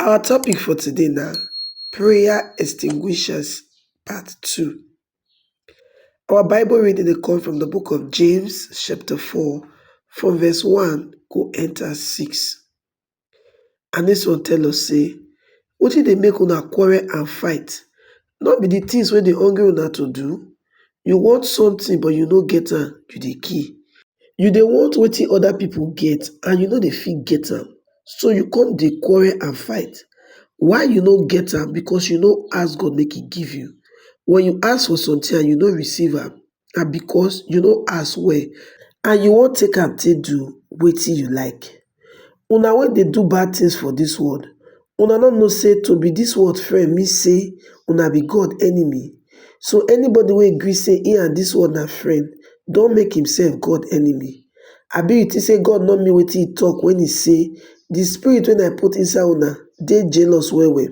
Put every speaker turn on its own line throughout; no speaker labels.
Our topic for today na prayer extinguishers part two. Our bible reading dey come from de book of James chapter four from verse one go enter six and dis one tell us sey wetin dey make una quarrel and fight No be the things wey dey hungry una to do? You want something but you no get am, you dey kill. You dey want wetin other people get and you no dey fit get am, so you come dey quarrel and fight. Why you no get am? Because you no ask God make e give you. When you ask for something and you no receive am, na because you no ask well and you wan take am take do wetin you like. Una wey dey do bad things for dis world, una no know say to be dis world friend mean say una be God enemy? So anybody wey gree say im and dis world na friend don make himself God enemy. Abi you think say God no mean wetin he talk when he say, the spirit wey I put inside una dey jealous well well?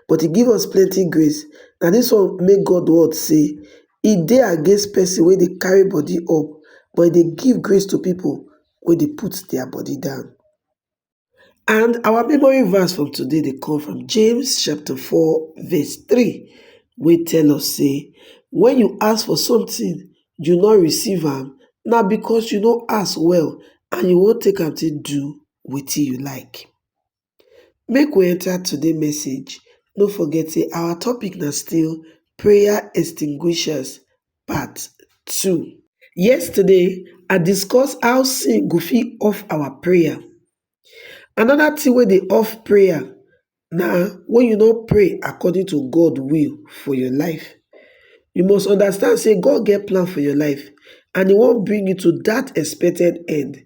but he give us plenty grace. Na this one make God word say, He dey against person wey dey carry body up, but he dey give grace to people wey dey put their body down. And our memory verse from today dey come from James chapter 4 verse 3 wey tell us say, When you ask for something, you no receive am, na because you no ask well and you wan take am take do wetin you like. Make we enter today message, no forget say our topic na still prayer extinguishers part two. Yesterday, I discuss how sin go fit off our prayer. Another thing wey dey off prayer na when you no pray according to God will for your life. You must understand say God get plan for your life and e wan bring you to that expected end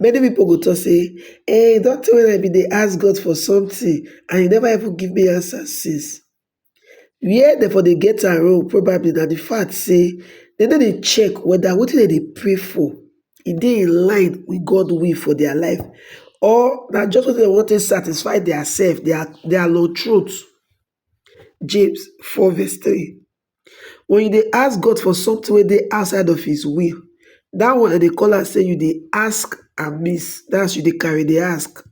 Many pipo go tok sey e don tey wey I be dey ask God for something and e never even give me answer since, where dem for dey get am wrong probably na di fact sey dem no dey check weda wetin dem dey pray for e dey in line with God way for dia life or na just wetin dem wan take satisfy dia self, dia lawtroat. James four verse three. When you dey ask God for something wey dey outside of his will, that one dem dey call am say you dey ask amiss, that's you dey carry dey ask.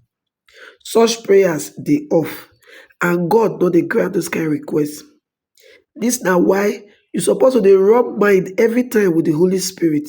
Such prayers dey off and God no dey grant those kind requests. This na why you suppose to dey rub mind every time with the Holy Spirit.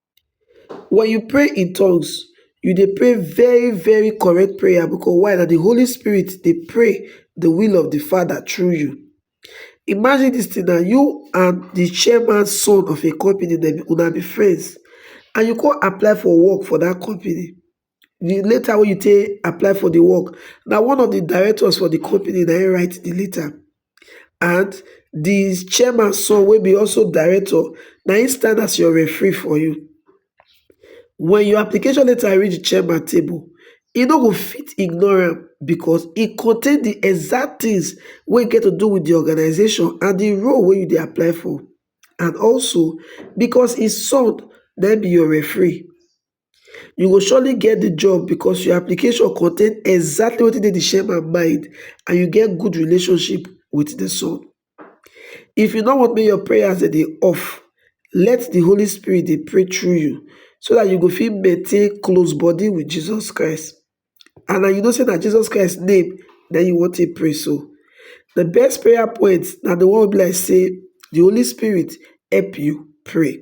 Wen you pray in tongues, you dey pray very very correct prayer because why na di Holy Spirit dey pray di will of di Father through you. Imagine dis thing now, you and di chairman son of a company una be friends and you come apply for work for dat company di letter wey you take apply for di work na one of di directors for di company na im write di letter and di chairman son wey be also director na im stand as your referee for you wen your application letter reach di chairman table e no go fit ignore am because e contain di exact things wey get to do with di organisation and di role wey you dey apply for and also because im son na im be your referee you go surely get di job because your application contain exactly wetin dey di chairman mind and you get good relationship with di son. If you no want make your prayers dem dey off, let di Holy Spirit dey pray through you so dat you go fit maintain close body with Jesus Christ and na you know sey na Jesus Christ name na im you wan take pray so. Di best prayer point na di one wey be like sey di Holy Spirit help you pray.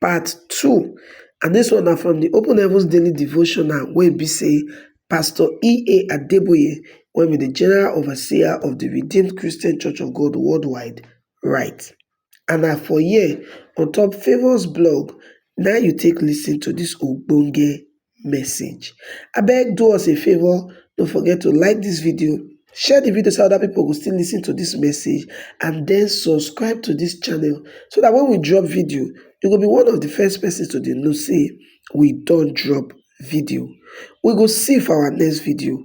part two and this one na from the open heavens daily devotional wey be say pastor ea adeboye wey be the general overseer of the redeemed christian church of god worldwide write and na for here on top favours blog na you take listen to this ogbonge message. Abeg do us a favour no forget to like dis video, share di video so dat oda pipo go still lis ten to dis message and den subscribe to dis channel so dat wen we drop video you go be one of di first pesins to dey know sey we don drop video. We go see you for our next video.